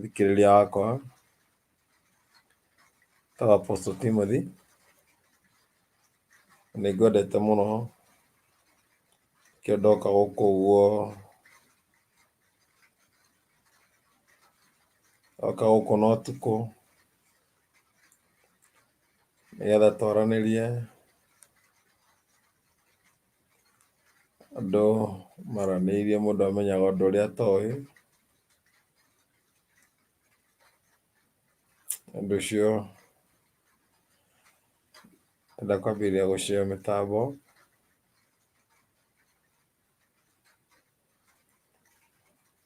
thikĩrĩria wakwa etagwo Apostle Timothy, na nĩ ngwendete mũno kĩo ndoka gũkũ ũguo ndoka gũkũ na ũtukũ nĩgetha twaranĩrie Andũ maranĩirie mũndũ amenyaga ũndũ ũrĩa atoĩ. Ũndũ ũcio nenda kwambĩrĩria gũcira mĩtambo.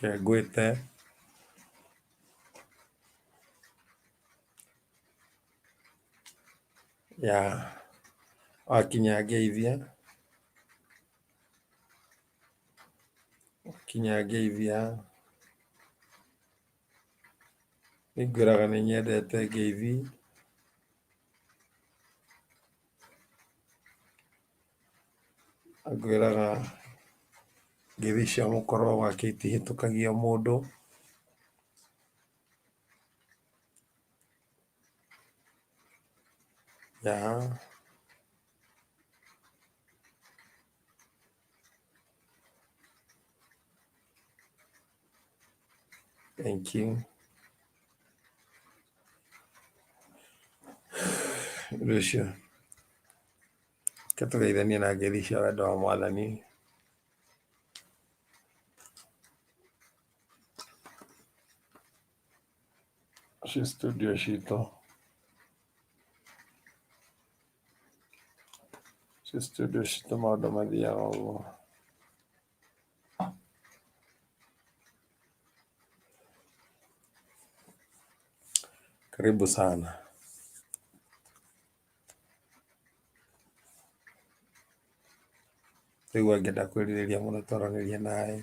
Reke ngwĩte. Ya, wakinya ngeithie. Wakinya ngeithia. Nĩ ngwĩraga nĩ nyendete ngeithi. Ngwĩraga ngeithi cia mũkora gwake itihĩtũkagia mũndũ. Thengiũ. Ũndũ ũcio. Reke tũgeithanie na ngeithi cia wendo wa Mwathani. Ci studio citũ. Ci studio citũ maũndũ mathiaga ũguo. Karibu sana. rĩu angĩenda kwĩrirĩria mũno twaranĩria naye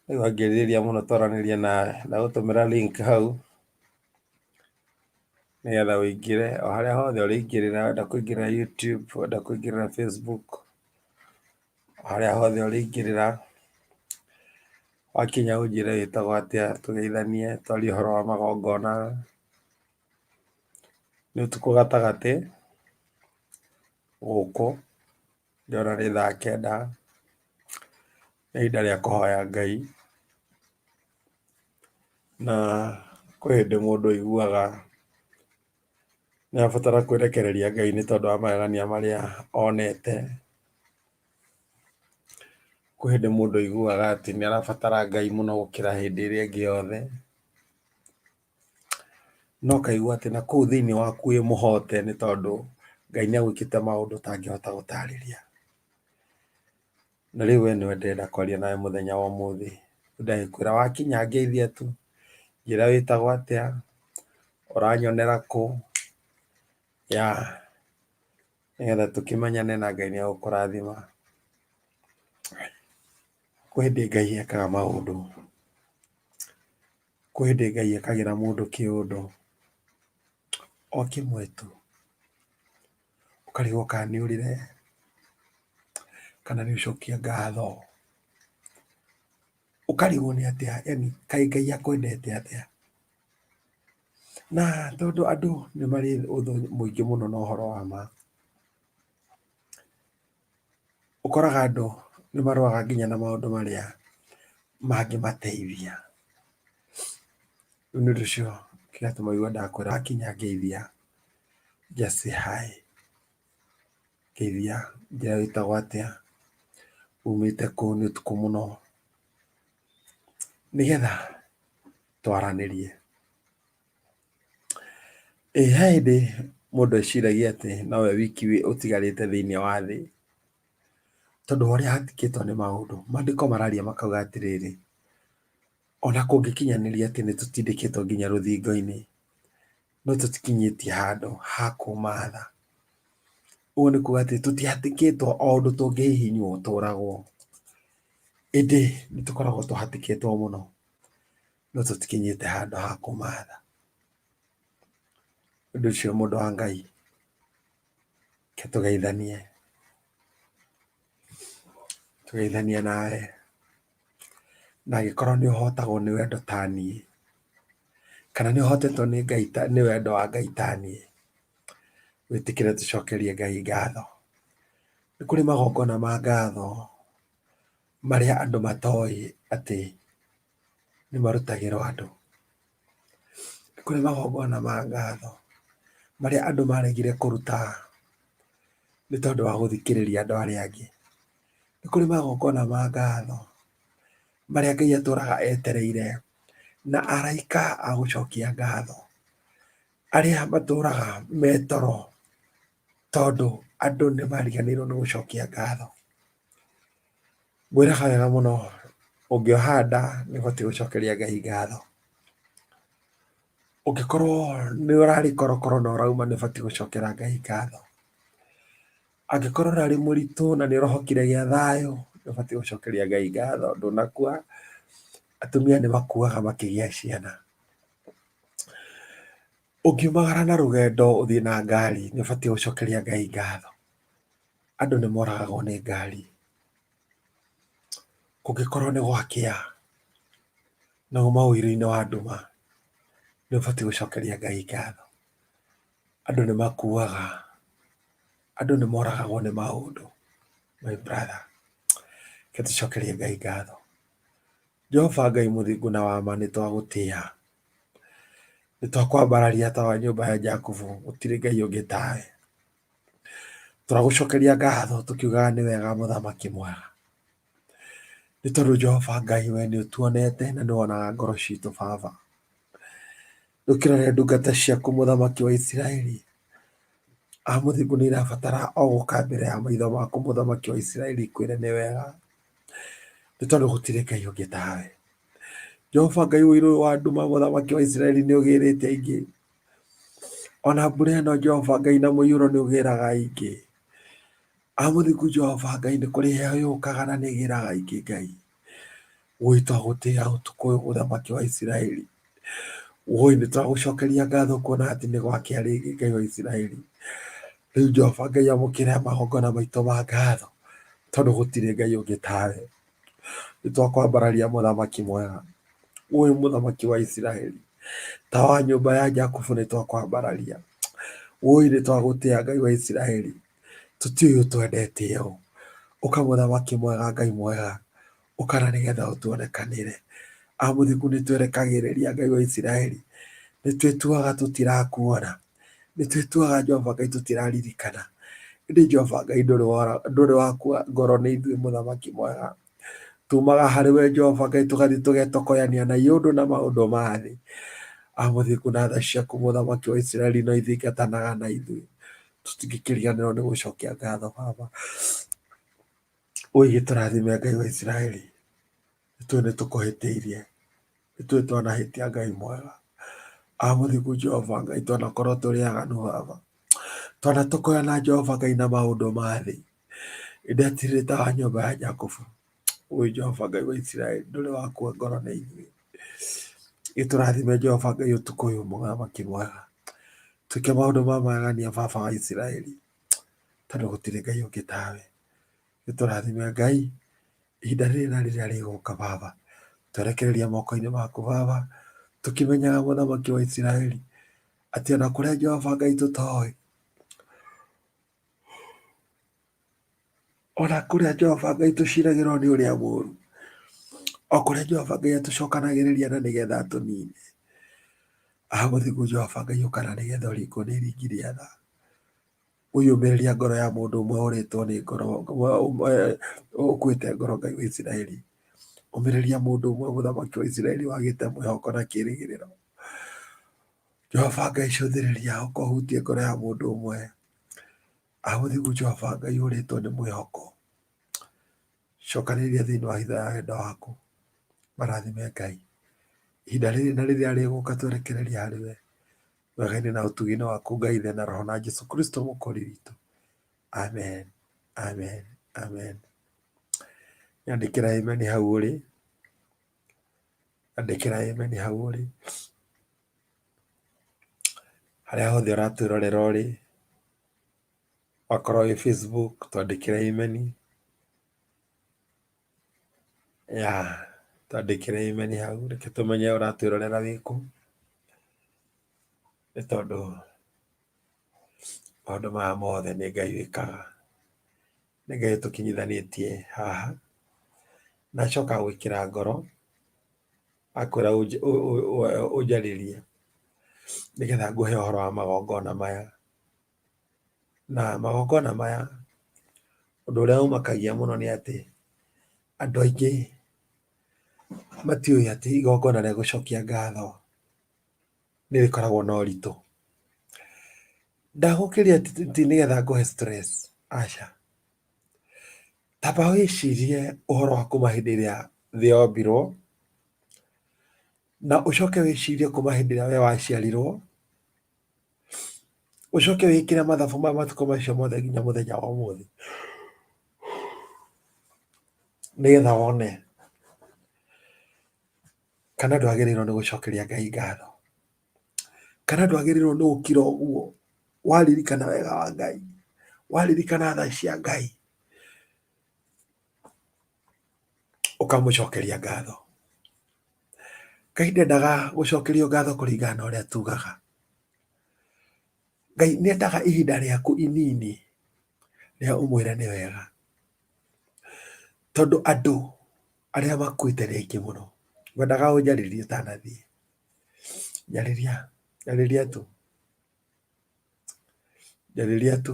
rĩu angĩrirĩria mũno twaranĩria nawe ndagũtũmĩra link hau nĩgetha ũingĩre o harĩa hothe ũrĩingĩrĩra wenda kũingĩrĩra YouTube, wenda kũingĩrĩra Facebook, o harĩa hothe ũrĩingĩrĩra, wakinya ũnjĩre wĩtagwo atĩa tũgeithanie twarie ũhoro wa magongona. Nĩ ũtukũ gatagatĩ gũkũ Ndĩrona nĩ thaa kenda, nĩ ihinda rĩa kũhoya Ngai, na kwĩ hĩndĩ mũndũ aiguaga nĩ arabatara kwĩrekereria Ngai nĩ tondũ wa magegania marĩa onete. Kwĩ hĩndĩ mũndũ aiguaga atĩ nĩ arabatara Ngai mũno gũkĩra hĩndĩ ĩrĩa ĩngĩ yothe. No kaigua atĩ na kũu thĩinĩ waku wĩ mũhote nĩ tondũ Ngai nĩ agwĩkĩte maũndũ ũtangĩhota gũtarĩria. Na rĩu we nĩwe ndĩrenda kwaria nawe mũthenya wa ũmũthĩ. Ndagĩkwĩra wakinya ngeithia tu, njĩra wĩtagwo atĩa, ũranyonera kũ, ya nĩgetha tũkĩmenyane na Ngai nĩ agũkũrathima. Kwĩ hĩndĩ Ngai ekaga maũndũ. Kwĩ hĩndĩ Ngai ekagĩra mũndũ kĩũndũ o kĩmwe tu, ũkarigwo kana nĩ ũrĩre kana nĩ gũcokia ngatho, ũkarigwo nĩ atĩa yaani kaĩ Ngai akwendete atĩa. Na tondũ andũ nĩ marĩ ũthũ mũingĩ mũno na ũhoro wa ma. ũkoraga andũ nĩ marũaga nginya na maũndũ marĩa mangĩmateithia. Rĩu nĩ ũndũ ũcio kĩgatũma ũigua ndakwĩra akinya ngeithia just say hi. Ngeithia njoya wĩtagwo atĩa, umĩte kũ, nĩ ũtukũ mũno, nĩgetha twaranĩrie. Ĩ he hĩndĩ mũndũ eciragia atĩ nowe wiki ũtigarĩte thĩinĩ wa thĩ? Tondũ wa ũrĩa handĩkĩtwo nĩ maũndũ. Maandĩko mararia makauga atĩrĩrĩ, ona kũngĩkinyanĩria atĩ nĩ tũtindĩkĩtwo nginya rũthingo-inĩ, no tũtikinyĩtie handũ ha kuuma tha. Ũguo nĩ kuuga atĩ tũtihatĩkĩtwo o ũndũ tũngĩhihinywo tũũragwo. Ĩndĩ nĩ tũkoragwo tũhatĩkĩtwo mũno. no tũtikinyĩte handũ ha kũmatha ũndũ ũcio mũndũ wa ngai ke tũgeithanie tũgeithanie nawe na angĩkorwo nĩ ũhotagwo nĩ wendo ta niĩ kana nĩ ũhotetwo nĩ ngai ta nĩ wendo wa ngai ta niĩ wĩtĩkĩre tũcokerie ngai ngatho nĩ kũrĩ magongona ma ngatho marĩa andũ matoĩ atĩ nĩ marutagĩrwo andũ. Nĩ kũrĩ magongona ma ngatho marĩa andũ maregire kũruta nĩ tondũ wa gũthikĩrĩria andũ arĩa angĩ. Nĩ kũrĩ magongona ma ngatho marĩa Ngai atũraga etereire na araika a gũcokia ngatho arĩa matũraga me toro tondũ andũ nĩ mariganĩirwo nĩ gũcokia ngatho. Ngwĩraga wega mũno, ũngĩoha nda nĩ ũbatiĩ gũcokeria Ngai ngatho. Ũngĩkorwo nĩ ũrarĩ korokoro na ũrauma nĩ ũbatiĩ gũcokera Ngai ngatho. Angĩkorwo ũrarĩ mũritũ na nĩ ũrohokire gĩa thayũ nĩ ũbatiĩ gũcokeria Ngai ngatho ndũnakua. Atumia nĩ makuaga makĩgĩa ciana. Ũngiumagara na rũgendo ũthiĩ na ngari nĩ ũbatiĩ gũcokeria Ngai ngatho. Andũ nĩ moragagwo nĩ ngari. Kũngĩkorwo nĩ gwakĩa, no uma ũiru-inĩ wa nduma, nĩ ũbatiĩ gũcokeria Ngai ngatho. Andũ nĩ makuaga, andũ nĩ moragagwo nĩ maũndũ, my brother. Reke tũcokerie Ngai ngatho. Jehova Ngai mũthingu na wa ma nĩ twagũtĩa. Nĩ twakwambararia ta wa nyũmba ya Jakubu, gũtirĩ Ngai ũngĩ tawe. tũragũcokeria ngatho tũkiugaga nĩ wega mũthamaki mwega nĩ tondũ jehova ngai we nĩ ũtuonete na nĩ wonaga ngoro citũ baba ndũkĩrore ndungata ciaku mũthamaki wa isiraeli amũthingu nĩ irabatara o gũka mbere ya maitho maku mũthamaki wa isiraeli kwĩre nĩ wega nĩ tondũ gũtirĩ ngai ũngĩ tawe jehova ngai ũirũ wa nduma mũthamaki wa isiraeli nĩ ũgĩrĩte aingĩ Ona mbura ĩno Jehova Ngai na mũiyũro nĩ ũgĩraga ingĩ. Amũthingu Jehova Ngai nĩ kũrĩ heho yũkaga na nĩ ĩgĩraga ingĩ Ngai. Wũi twagũtĩa ũtukũ ũyũ mũthamaki wa Isiraeli. Wũi nĩ twagũcokeria ngatho kuona atĩ nĩ gwakĩa rĩngĩ Ngai wa Isiraeli. Rĩu Jehova Ngai amũkĩra magongona maitũ ma ngatho tondũ gũtirĩ Ngai ũngĩ tawe. Nĩ twakwambararia mũthamaki mwega, ũyũ mũthamaki wa Isiraeli, ta wa nyũmba ya Jakubu nĩ twakwambararia. Ũyũ nĩ twagũtĩa Ngai wa Isiraeli, tũtiũĩ ũtwendete ũũ. Ũka mũthamaki mwega Ngai mwega, ũka na nĩgetha ũtuonekanĩre. Amũthiku nĩ twerekagĩrĩria Ngai wa Isiraeli, nĩ twĩtuaga tũtirakuona. nĩ twĩtuaga Jehova Ngai tũtiraririkana. Ĩndĩ Jehova Ngai ndũrĩ wakua ngoro nĩ ithuĩ mũthamaki mwega. Tumaga harĩ we Jehova Ngai tũgathiĩ tũgetokoyania na iũndũ na maũndũ ma thĩ. Amũthiku na tha ciaku mũthamaki wa Isiraeli no ithingatanaga na ithuĩ. Tũtingĩkĩriganĩrwo nĩ gũcokia ngatho Baba. Ũigĩtũrathime Ngai wa Isiraeli. ithuĩ nĩ tũkũhĩtĩirie ithuĩ twanahĩtia ngai mwega amũthiku jehova ngai twanakorwo tũrĩ aganu baba twanatũkoya na jehova ngai na maũndũ ma thĩ indetirĩ ta wa nyũmba ya jakobu ũyũ jehova ngai wa isiraeli ndũrĩ wakua ngoro na ithuĩ gĩtũrathime jehova ngai ũtukũ ũyũ mũthamaki mwega twĩke maũndũ ma magegania baba wa isiraeli tondũ gũtirĩ ngai ũngĩ tawe Nĩ tũrathime Ngai ihinda rĩrĩ na rĩrĩa rĩgũka Baba. Twerekereria moko-inĩ maku Baba, tũkĩmenyaga mũthamaki wa Isiraeli atĩ ona kũrĩa Jehova Ngai tũtoĩ, ona kũrĩa Jehova Ngai tũciragĩrwo nĩ ũrĩa mũru, o kũrĩa Jehova Ngai atũcokanagĩrĩria na nĩgetha atũnine. Aha mũthingu Jehova Ngai ũkana nĩgetha ũringwo nĩ iringi rĩa tha. ũyũmĩrĩria ngoro ya mũndũ ũmwe ũrĩtwo nĩ ngoro ũkuĩte ngoro ngai wa isiraeli ũmĩrĩria mũndũ ũmwe mũthamaki wa isiraeli wagĩte mwĩhoko na kĩrĩgĩrĩro jehova ngai cũthĩrĩria ũkohutie ngoro ya mũndũ ũmwe ahũthigu jehova ngai ũrĩtwo nĩ mwĩhoko cokanĩrĩria thĩinĩ wa hitho ya wendo waku marathime ngai ihinda rĩrĩ na rĩrĩa rĩgũka twerekereria harĩ we Wega-inĩ na ũtugi-inĩ waku Ngai Ithe na Roho na Jesu Kristo mũkũri witũ. Amen. Amen. Amen. Nyandĩkĩra amen hau ũrĩ. Nyandĩkĩra amen hau ũrĩ. Harĩa hothe ũratwĩrorera ũrĩ. Wakorwo wĩ Facebook twandĩkĩra amen. ya twandĩkĩre amen hau reke tũmenye ũratwĩrorera wĩkũ nĩ tondũ maũndũ maya mothe nĩ ngai wĩkaga nĩ ngai tũkinyithanĩtie haha na acoka gwĩkĩra ngoro akwĩra ũnjarĩrie nĩgetha ngũhe ũhoro wa magongona maya Na magongona maya ũndũ ũrĩa ũmakagia mũno nĩ atĩ andũ aingĩ matiũĩ atĩ igongona rĩa gũcokia ngatho nĩ rĩkoragwo na ũritũ. Ndagũkĩria ti nĩgetha ngũhe stress, aca. Tamba wĩcirie ũhoro wa kuma hĩndĩ ĩrĩa thĩ yombirwo, na ũcoke wĩcirie kuma hĩndĩ ĩrĩa we waciarirwo, Ũcoke wĩkĩre mathabu ma matukũ macio mothe nginya mũthenya wa ũmũthĩ, nĩgetha wone kana ndwagĩrĩirwo nĩ gũcokeria Ngai ngatho, kana ndwagĩrĩirwo nĩ gũkira ũguo waririkana wega wa Ngai, waririkana tha cia Ngai. ũkamũcokeria ngatho ngai ndendaga gũcokerio ngatho kũringana na ũrĩa tugaga ngai nĩendaga ihinda rĩaku inini rĩa ũmwĩre nĩ wega tondũ andũ arĩa makuĩte nĩ aingĩ mũno ngwendaga ũnjarĩrie ũtanathiĩ njarĩria njarĩria tu njarĩria tu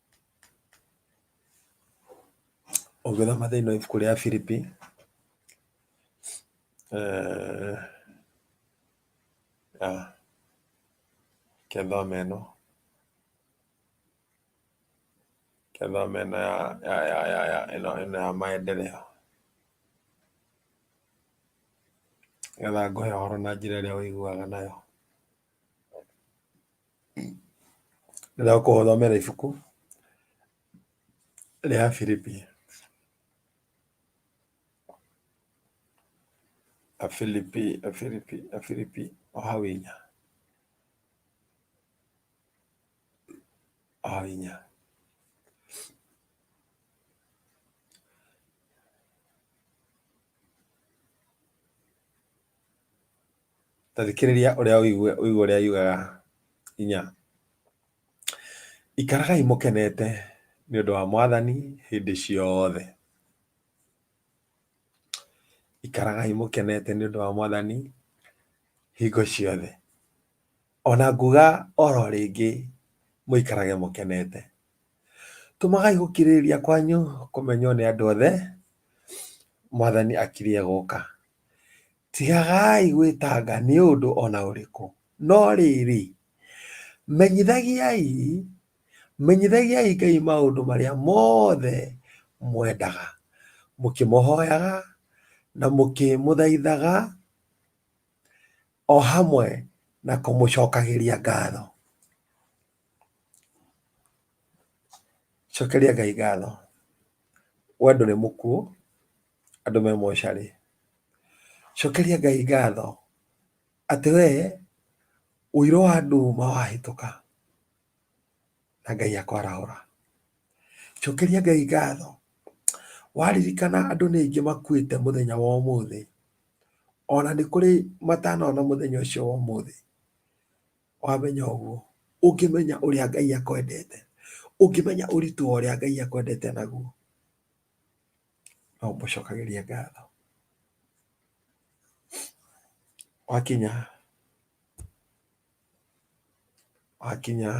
Ũngĩthoma thĩinĩ wa ibuku rĩa Filipi, eh, ah, reke thome ĩno reke thome ĩno ya ya ya ya ya ĩno ĩno ya maendeleo nĩgetha ngũhe ũhoro na njĩra ĩrĩa ũiguaga nayo. Thutha wa kũhothomera ibuku rĩa Filipi, Afilipi, Afilipi, Afilipi o hau inya, o hau inya. ta thikĩrĩria ũrĩa ũigue ũigue ũrĩa yugaga inya ikaragai mũkenete nĩ ũndũ wa mwathani hĩndĩ ciothe ikaragai mũkenete nĩ ũndũ wa mwathani hingo ciothe ona nguga oro rĩngĩ mũikarage mũkenete tũmagai gũkirĩrĩria kwanyu kũmenywo nĩ andũ othe mwathani akirie gũka Tigagai gwĩtanga nĩ ũndũ o na ũrĩkũ, no rĩrĩ, menyithagiai, menyithagiai Ngai maũndũ marĩa mothe mwendaga, mũkĩmũhoyaga na mũkĩmũthaithaga, o hamwe na kũmũcokagĩria ngatho. Cokeria Ngai ngatho. We ndũrĩ mũkuũ. andũ me mocarĩ cokeria ngai ngatho atĩ we ũirũ wa andũ ma wahĩtũka na ngai akwarahũra cokeria ngai ngatho waririkana andũ nĩ aingĩ makuĩte mũthenya wa ũmũthĩ ona nĩ kũrĩ matanona mũthenya ũcio wa ũmũthĩ wamenya ũguo ũngĩmenya ũrĩa ngai akwendete ũngĩmenya ũritũ wa ũrĩa ngai akwendete naguo no ũmũcokagĩrie ngatho. Wakinya wakinya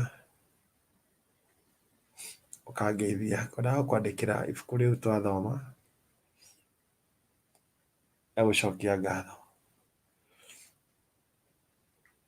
ũkangeithia, ngwendaga gũkwandĩkĩra ibuku rĩu twathoma rĩa gũcokia ngatho.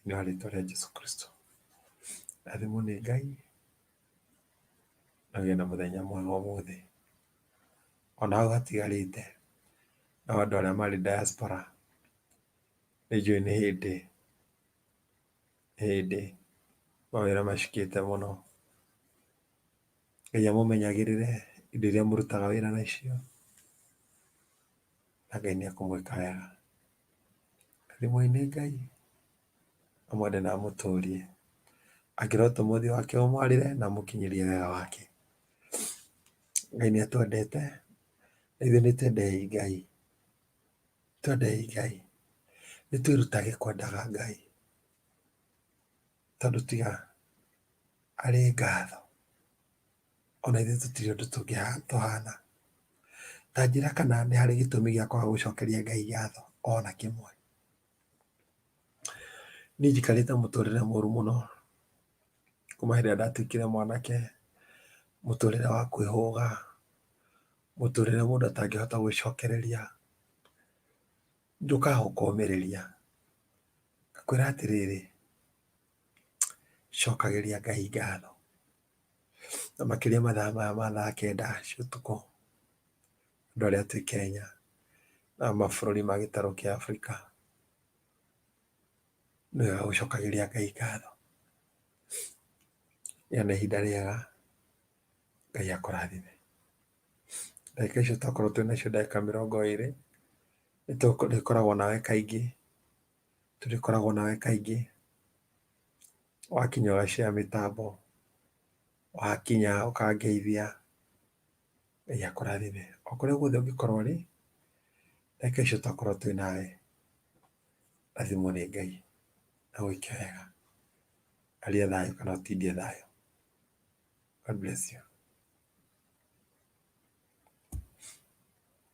Thĩinĩ wa rĩtwa rĩa Jesu Kristo. Rathimwo nĩ Ngai na ũgĩe na mũthenya mwega ũmũthĩ. Ona hau hatigarĩte no andũ arĩa marĩ diaspora nĩ njũĩ nĩ hĩndĩ nĩ hĩndĩ mawĩra macukĩte mũno. Ngai amũmenyagĩrĩre indo iria mũrutaga wĩra nacio na Ngai nĩ ekũmwĩka wega. Thimũ-inĩ Ngai amwende na amũtũrie. Angĩrotwo mũthĩ wake ũmwarĩre na amũkinyĩrie wega wake. Ngai nĩatwendete na ithuĩ nĩtwendei Ngai. Twendei Ngai. Nĩtwĩrutage kwendaga Ngai tondũ tiga arĩ ngatho. ona ithuĩ tũtirĩ ũndũ tũhana ta njĩra kana nĩ harĩ gĩtũmi gĩa kwaga gũcokeria ngai ngatho ona kĩmwe niĩ njikarĩte mũtũrĩre mũru mũno kuma hĩndĩ ĩrĩa ndatuĩkire mwanake mũtũrĩre wa kwĩhũga mũtũrĩre mũndũ atangĩhota gwĩcokereria njũkaga gũkũmĩrĩria ngakwĩra atĩrĩrĩ cokagĩria Ngai ngatho na makĩria mathaa maya ma thaa kenda cia ũtukũ andũ arĩa twĩ Kenya na mabũrũri ma gĩtarũ kĩa Afrika nĩ wega gũcokagĩria Ngai ngatho rĩrĩa nĩ ihinda rĩega Ngai akũrathime ndagĩka icio twakorwo twĩ nacio ndagĩka mĩrongo ĩrĩ nĩtũrĩkoragwo nawe kaingĩ tũrĩkoragwo nawe kaingĩ wakinya ũgacea mĩtambo wakinya ũkangeithia ngai akũrathime o kũrĩa guothe ũngĩkorwo ũrĩ reke icio twakorwo twĩ nawe rathimwo nĩ ngai na gwĩke wega aria thayũ kana ũtindie thayũ God bless you